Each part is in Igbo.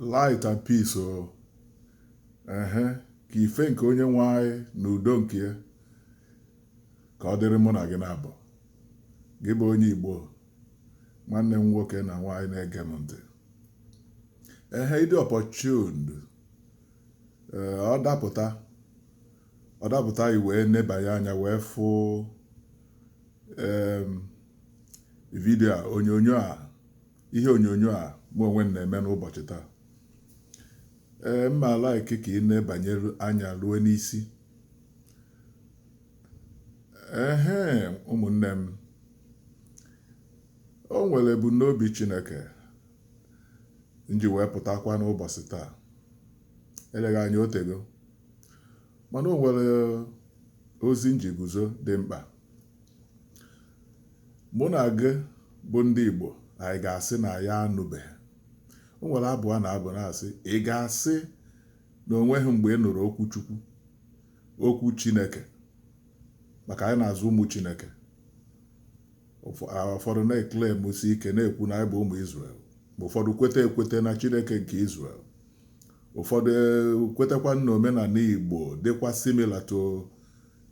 light and peace o oh. ehe ka ife nke onye nwe anyị na udo nke ya ka ọ dịrị mụ na gị naabọ gị bụ onye Igbo nwanne m nwoke na nwaanyị na-ege m ntị ehe ị dị opportuned eh, ọ dapụta ọ dapụta i wee nebanye anya wee fụ vidio a onyonyo a ihe onyonyo a mụ onwe m na-eme n'ụbọchị taa ee m ma like ka ị nebanye anya ruo n'isi ehe ụmụnne m o nwere ebumnobi Chineke m ji wee pụtakwa n'ụbọchị taa eleghị anya o tego mana o nwere ozi m ji guzo dị mkpa mụ na gị bụ ndị Igbo anyị ga-asị na ya anụbeghị o nwere abụ a na-abụ na-asị ị ga-asị na o nweghị mgbe ị nụrụ okwu Chukwu okwu Chineke maka anyị na-aza ụmụ Chineke ụfọdụ na-eclaimusi ike na-ekwu na anyị bụ ụmụ Izrel ma ụfọdụ kweta ekweta na Chineke nke Izrel ụfọdụ e, kwetakwa na omenala igbo dịkwa similar to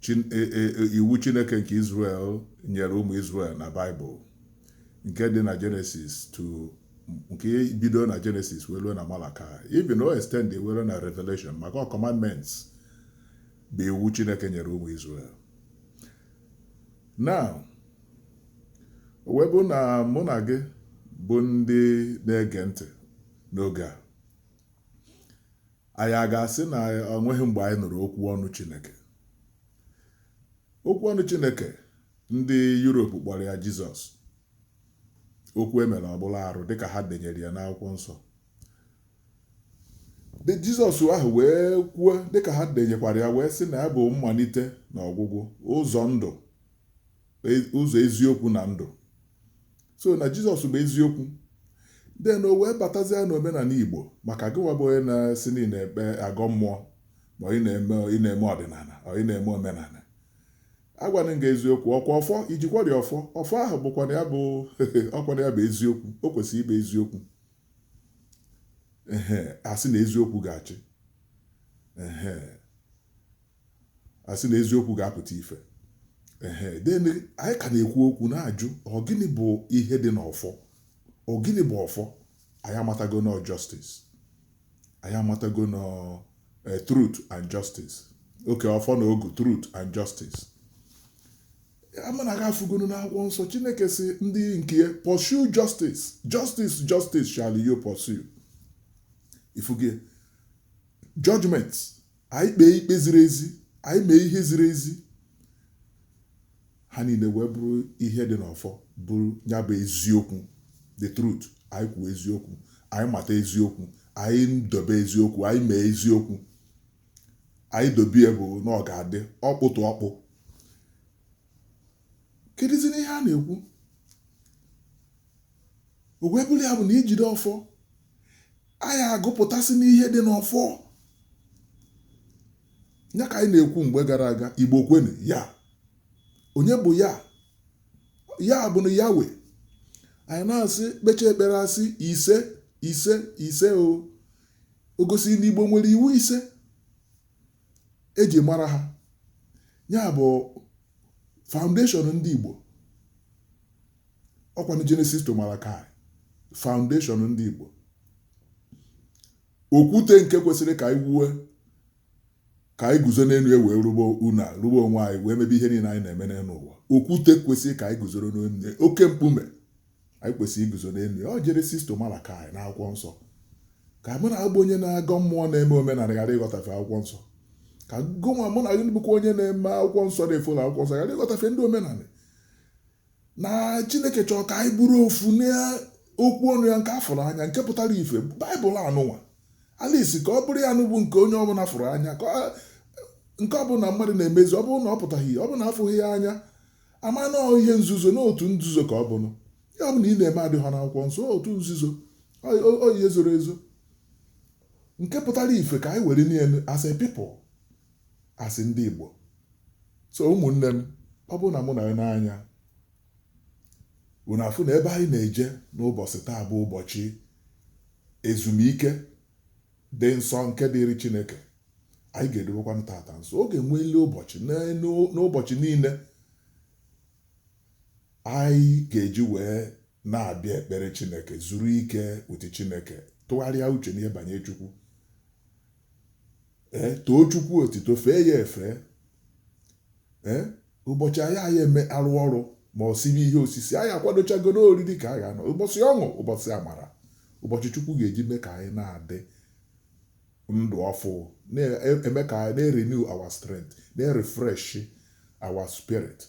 Chin- e- e- e- iwu chineke nke israel nyere ụmụ israel na baịbụl nke dị na jenesis to nke bido na jenesis wee ruo na malakaị even o extend wee ruo na revelation maka ọ commandments bụ iwu chineke nyere ụmụ israel now o wee bụ na mụ na gị bụ ndị na-ege ntị n'oge a. Anyị a ga-asị na o nweghị mgbe anyị nụrụ okwu ọnụ Chineke? Okwu ọnụ Chineke ndị Yurop kpọrọ ya Jizọs. Okwu e mere ọ bụlụ arụ dịka ha denyere ya n'akwụkwọ nsọ. The Jizọs ahụ wee kwuo dịka ha denyekwara ya wee sị na ya bụ mmalite na ọgwụgwụ, ụzọ ndụ, e- ụzọ eziokwu na ndụ. so na jizọs bụ eziokwu then o wee batazia na omenala igbo maka gịnwa bụ onye na-asị na ị na-ekpe agọ mmụọ ma ị na-eme ị na-eme ọdịnala ọ ị na-eme omenala agwanụ m gị eziokwu ọkwa ọfọ i jikwara ọfọ ọfọ ahụ bụkwanụ ya bụ ọkwanụ ya bụ eziokwu o kwesịrị ịbụ eziokwu ehe a sị na eziokwu ga-achị ehe a sị na eziokwu ga-apụta ife ehe then anyị ka na-ekwu okwu na-ajụ ọ gịnị bụ ihe dị n'ọfọ ọ gịnị bụ ọfọ anyị amatago na justice anyị amatago na eh, truth and justice oke ọfọ na ogu truth and justice amana ga afụgonu n'akwụkwọ nsọ chineke sị ndị nke ya pursue justice justice justice shall you pursue ị fụgo ya judgment anyị kpee ikpe ziri ezi anyị mee ihe ziri ezi ha niile wee bụrụ ihe dị n'ọfọ bụrụ ya bụ eziokwu the truth anyị kwuo eziokwu anyị mata eziokwu anyị dobe eziokwu anyị mee eziokwu anyị dobe ya bụ na ọ ga-adị ọkpụtụ ọkpụ kedụzi ihe a na-ekwu o wee bụrụ ya bụ na ijide ọfọ anyị agụpụtasị n'ihe dị n'ọfọ ya ka anyị na-ekwu mgbe gara aga igbo kwenu ya onye bụ ya ya bụ na Yahweh anyị na-asị kpecha ekpere a sị ise ise ise o o gosi na igbo nwere iwu ise e ji mara ha ya bụ foundation ndị Igbo ọkwanụ Genesis to Malachi foundation ndị Igbo okwute nke kwesịrị ka anyị wuwe ka anyị guzo n'elu ya wee rụba ụnọ rụba onwe anyị wee mebe ihe niile anyị na-eme n'elu ụwa okwute kwesịrị ka anyị guzoro n'elu oke mkpume anyị kwesịrị iguzo n'elu ya ọ Genesis to Malachi n'akwụkwọ nsọ ka mụ na gị bụ onye na-agọ mmụọ na-eme omenala ghara ịghọtafe akwụkwọ nsọ ka gụnwa mụ na gị bụkwa onye na-eme akwụkwọ nsọ na-efollow akwụkwọ nsọ ghara ịghọtafe ndị omenala na chineke chọrọ ka anyị bụrụ ofu n'okwu ọnụ ya nke a fụrụ anya nke pụtara ife baịbụl anụnwa at least ka ọ bụrụ ya nụ bụ nke onye ọbụla fụrụ anya nke ọbụla mmadụ na-emezi ọ bụrụ na ọ pụtaghị ọ bụrụ na a fụghị ya anya a ma na ọ ihe nzuzo na otu nzuzo ka ọ bụnụ ihe ọbụla ị na-eme adịghị n'akwụkwọ nsọ ọ otu nzuzo ọ ọ- ọ ihe zoro ezo nke pụtara ife ka anyị were niile as a people as ndị Igbo so ụmụnne m ọ bụrụ na unu enee anya unu afụ na ebe anyị na-eje n'ụbọchị taa bụ ụbọchị ezumike dị nsọ nke dịịrị Chineke anyị ga-edobekwanụ tata nsọ ọ ga-enwelị ụbọchị n'ụbọchị niile anyị ga-eji wee na-abịa ekpere Chineke zuru ike with Chineke tụgharịa uche n'ihe banye Chukwu ee too Chukwu otito fee ya efe ee Ụbọchị anyị anyị eme arụ ọrụ ma ọ sibe ihe osisi, anyị akwadochagoro oriri ka a ga-anọ, ụbọchị ọṅụ, ụbọchị amara, ụbọchị Chukwu ga-eji mee ka anyị na-adị ndụ ọfụụ, na-eme ka anyị na-renew our strength, na-refresh our spirit,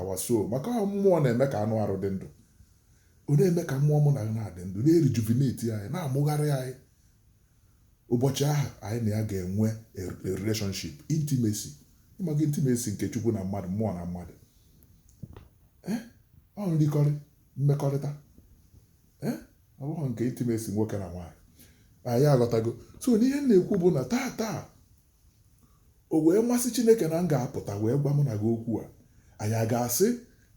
our soul. Maka ọ mmụọ na-eme ka anụ arụ dị ndụ. Ọ na-eme ka mmụọ mụ na gị na-adị ndụ, na-erejuvenate anyị, na-amụgharị anyị. Ụbọchị ahụ anyị na ya ga-enwe a relationship, intimacy. Ị mago intimacy nke Chukwu na mmadụ, mmụọ na mmadụ. Eh? Ọ nrikọrị, mmekọrịta. Eh? Ọ bụghị nke intimacy nwoke na nwaanyị. Anyị aghọtago. So n'ihe m na-ekwu bụ na taa taa, o wee masị Chineke na m ga-apụta wee gwa mụ na gị okwu a anyị a ga-asị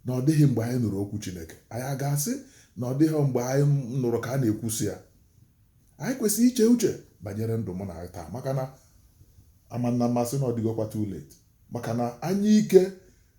na ọ dịghị mgbe anyị nụrụ okwu Chineke anyị a ga-asị na ọ dịghị mgbe anyị nụrụ ka a na-ekwusi ya anyị kwesịrị iche uche banyere ndụ mụ na gị taa maka na amanna mmasị na ọ dịgokwa too late maka na anyụike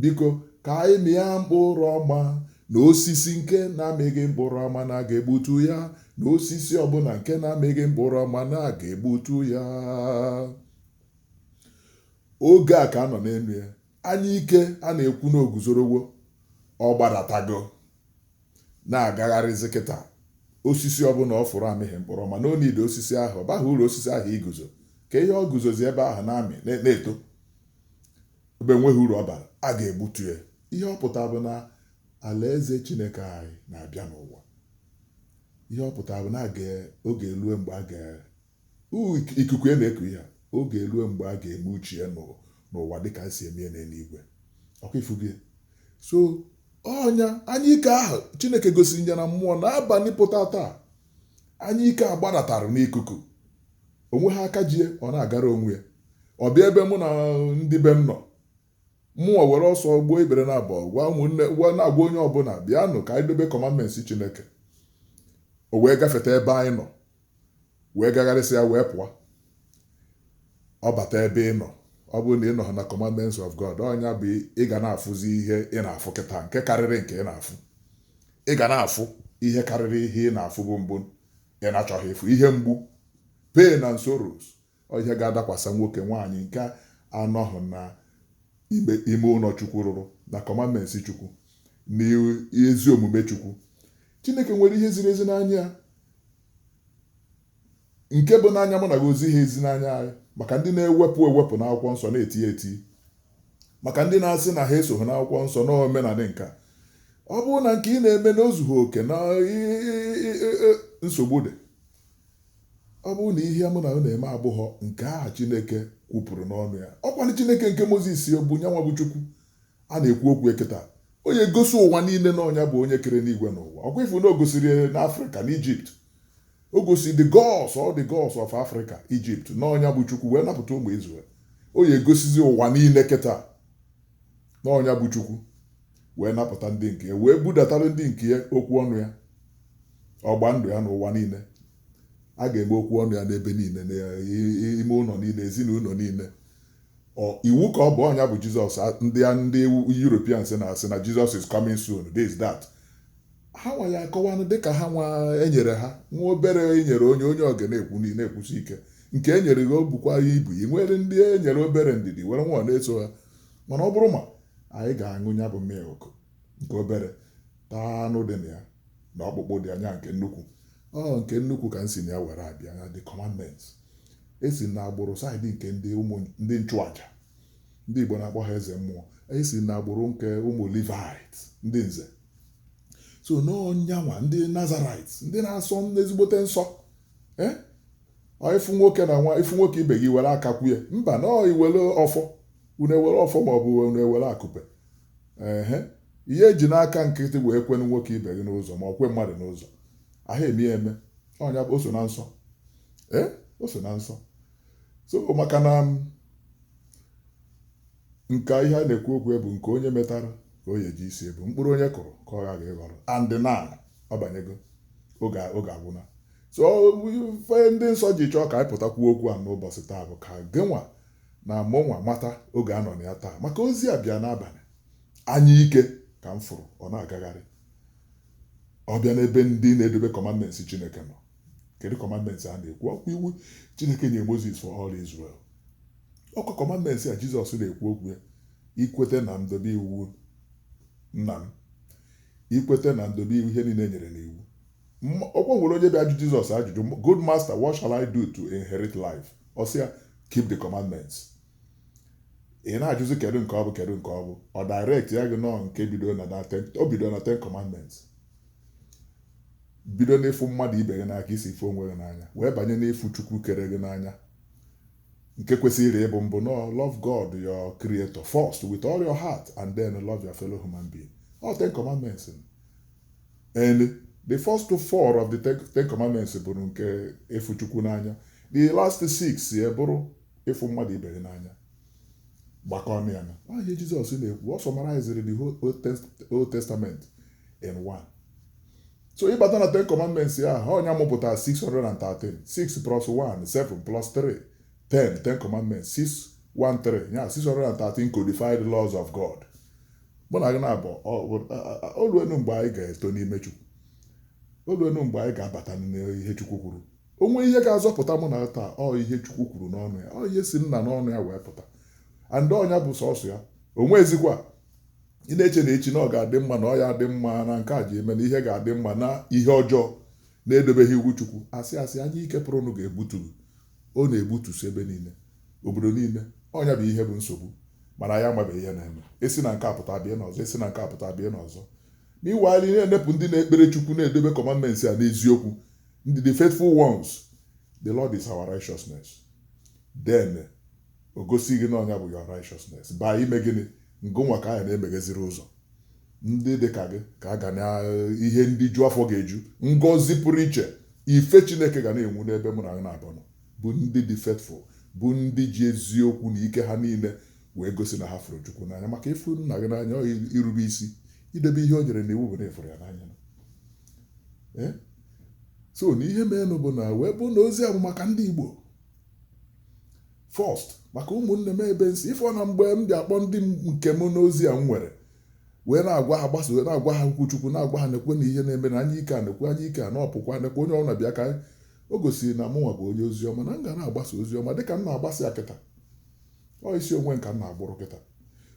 Biko, ka anyị mịa mkpụrụ ọma, na osisi nke na-amịghị mkpụrụ ọma na a ga-egbutu ya, na osisi ọ bụla nke na-amịghị mkpụrụ ọma na a ga-egbutu ya. Oge a ka a nọ n'elu ya, anyụike a na-ekwu na o guzorowo, ọ gbadatago, na-agagharịzi kịta. Osisi ọ bụla ọ fụrụ amịghị mkpụrụ ọma, na o nide osisi ahụ, ọ baghị uru osisi ahụ iguzo. Kee ihe o guzozi ebe ahụ na-amị, na-eto. Ebe enweghị uru ọ bara, a ga-egbutu ya. Ihe ọ pụtara bụ na Alaeze Chineke anyị na-abịa n'ụwa. Ihe ọ pụtara bụ na a ga ọ ga-erue mgbe a ga uu ik ikuku ya na-eku ihe a, ọ ga-erue mgbe a ga-eme uche ya n'ụ n'ụwa dị ka e si eme ya n'eluigwe. Ọ kwa ị fụgo ya? So, ọ nya, anyụike ahụ Chineke gosiri ya na mmụọ n'abalị pụta taa. Anyụike a gbadatarụ n'ikuku. O nweghị aka ji ya, ọ na-agara onwe ya. Ọ bịa ebe mụ na ndị be m nọ. Mụnwa were ọsọ gbuo ikpere naabọ, gwa ụmụnne, gwa na-agwa onye ọbụla, bịanụ ka anyị dobe commandments Chineke. O wee gafeta ebe anyị nọ, wee gagharịsịa wee pụọ. Ọ bata ebe ị nọ, ọ bụrụ na ị nọghị na commandments of God, ọ nya bụ ị ga na-afụzi ihe ị na-afụ kịta nke karịrị nke ị na-afụ. ị ga na-afụ ihe karịrị ihe ị na-afụbu mbụ ị na-achọghị ịfụ ihe mgbu pain and sorrows ọ ihe ga-adakwasa nwoke nwaanyị nke anọghị na ime ụlọ chukwu rụrụ na commandments chukwu na ezi omume chukwu chineke nwere ihe ziri ezi n'anya nke bụ n'anya mụ na gị ozi ha ezi n'anya anyị maka ndị na-ewepụ ewepụ n'akwụkwọ nsọ na-eti eti maka ndị na-asị na ha esoghị n'akwụkwọ nsọ na omenala nka ọ bụrụ na nke ị na-eme na o zughị oke na nsogbu dị ọ bụrụ na ihe mụ na gị na-eme abụghọ nke ahụ Chineke kwupụrụ n'ọnụ ya ọ kwanụ Chineke nke Mozis bụ nyanwa bụ Chukwu A na-ekwu okwu ya kịta. O ya-egosi ụwa niile na ọ nya bụ onye kere enuigwe na ụwa. Ọkwa ị fụ na o gosiri n'Afrịka, n'Ijipt. O gosiri the gods, all the gods of Africa, Egypt, na ọ nya bụ Chukwu wee napụta ụmụ Izrel. O ya-egosizi ụwa niile kịta na ọ nya bụ Chukwu wee napụta ndị nke ya wee budatara ndị nke ya okwu ọnụ ya ọgba ndụ ya n'ụwa niile a ga-eme okwu ọnụ ya n'ebe niile n'ime ụlọ niile ezinụlọ niile Ọ iwu ka ọ bụ ọ nya bụ Jizọs a- ndị a- ndị Europeans na-asị na Jesus is coming soon this that ha nwa ya-akọwanụ dịka ha nwa e nyere ha nwa obere e nyere onye onye ọga na-ekwu n'ihi na-ekwusi ike nke e nyere gị o bukwa ibu e nwere ndị e nyere obere ndidi were nwayọ na-eso ha mana ọ bụrụ ma anyị ga-aṅụ ya bụ milk nke obere taa anụ dị na ya na ọkpụkpụ dị na ya nke nnukwu ọ nke nnukwu ka m si na ya were abịa na the commandments e si na agbụrụ side nke ndị nchụaja ndị Igbo na-akpọ ha eze mmụọ e si na agbụrụ nke ụmụ Levite ndị nze so na ọ nyanwa ndị Nazarite ndị na-asọ ezigbote nsọ eh? ị fụ nwoke na nwa ị fụ nwoke ibe gị were aka kwe mba na i were ọfọ unu ewere ọfọ ma ọ bụ unu ewere akụpe ehe ihe e ji n'aka nkịtị wee kwenu nwoke ibe gị n'ụzọ ma ọ kwe mmadụ n'ụzọ ahụ eme eme ọ nya bụ o so na nsọ ee o so na nsọ so maka na nke ihe a na-ekwu okwu bụ nke onye metara ka o ya-eji isi ebu mkpụrụ onye kụrụ ka ọ ghaghị ịghọrọ and na ọ banyego oge oge agwụna so ife ndị nsọ ji chọọ ka anyị pụta kwuo okwu a n'ụbọchị taa bụ ka gịnwa na mụnwa mata oge a nọ na ya taa maka ozi a bịa n'abalị anya ike ka m fụrụ ọ na-agagharị ọ bịa n'ebe ndị na-edobe commandments Chineke nọ kedu commandments a na-ekwu ọkwa iwu Chineke nye Moses for all Israel ọkwa commandments a Jizọs na-ekwu okwu ya i kweta na m dobe iwu nna m i kweta na m dobe iwu ihe niile e nyere n'iwu ọkwa e nwere onye bịa ajụ Jizọs ajụjụ good master what shall I do to inherit life ọ sị ya keep the commandments ị na-ajụzi kedu nke ọ bụ kedu nke ọ bụ ọ direct ya gị na nke bido na o bido na ten commandments bido n'ịfụ mmadụ ibe gị n'anya ka i si fụ onwe gị n'anya wee banye n'ịfụ chukwu kere gị n'anya nke kwesịrị ịbụ mbụ no love God your creator first with all your heart and then love your fellow human being all ten commandments and the first four of the ten commandments bụrụ nke ịfụ chukwu n'anya the last six ya bụrụ ịfụ mmadụ ibe gị n'anya gbakọọnụ ya na ihe Jizọs na-ekwu ọ summarizịrị the whole Old Test- Old Testament in one so ịbata na ten commandments ya ha onye amụpụta 613 6 plus 1 7 plus 3 10 ten commandments 613 ya 613 codified laws of God mụ na gị naabọ o luenụ mgbe anyị ga-eto n'ime Chukwu o luenụ mgbe anyị ga-abata n'ihe Chukwu kwuru o nwee ihe ga-azọpụta mụ na taa ọ ihe Chukwu kwuru n'ọnụ ya ọ ihe si nna n'ọnụ ya wee pụta and ọ nya bụ sọsọ ya o nwezikwa ị na-eche na echi na ọ ga-adị mma na ọ ya-adị mma na nke a ji eme na ihe ga-adị mma na ihe ọjọọ na edobeghị iwu Chukwu asị asị anyụike pụrụnụ ga-egbutu ọ na-egbutusi ebe niile obodo niile ọ nya bụ ihe bụ nsogbu mana ya amabeghị ihe na-eme e si na nke a pụta bịa n'ọzọ e si na nke a pụta bịa n'ọzọ n'iwe anyị na-enepụ ndị na-ekpere Chukwu na-edobe commandment ya n'eziokwu ndị the faithful ones the lord is our righteousness then o gosi gị na ọ nya bụ your righteousness baa ime gịnị ngịnwa ka anyị na-emegheziri ụzọ ndị dị ka gị ka a ga na ihe ndị ju afọ ga-eju ngọzi pụrụ iche ife chineke ga na-enwu n'ebe mụ na gị naabọ nọ bụ ndị dị faithful bụ ndị ji eziokwu na ike ha niile wee gosi na ha fụrụ chukwu n'anya maka ịfụ nna gị n'anya ọ irube isi idebe ihe o nyere n'iwu bụ na ị fụrụ ya n'anya eh? so na ihe merenụ bụ na wee bụ na ozi a bụ maka ndị Igbo first maka ụmụnne m ebe m si ị fụ na mgbe m bịa akpọ ndị nke m n'ozi a m nwere wee na-agwa ha gbasa wee na-agwa ha okwu chukwu na-agwa ha nekwa na ihe na-eme na anyụike a nekwa anyụike a na ọ pụkwa nekwa onye ọbụla bịa ka o gosiri na mụnwa bụ onye ozi ọma na m ga na-agbasa ozi ọma dịka m na-agbasa ya kịta ọ isi onwe m ka m na-agbụrụ kịta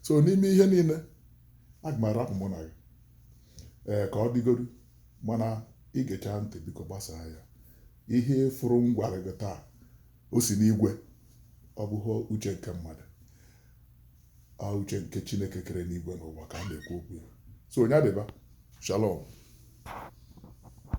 so n'ime ihe niile aga m arapụ mụ na gị ee ka ọ dịgodu mana ị gechaa ntị biko gbasaa ya ihe fụrụ m gwara gị taa o si n'igwe ọ bụghị uche nke mmadụ ọ uche nke chineke kere enigwe na ụwa ka a na-ekwu okwu ya so nya dịba shalom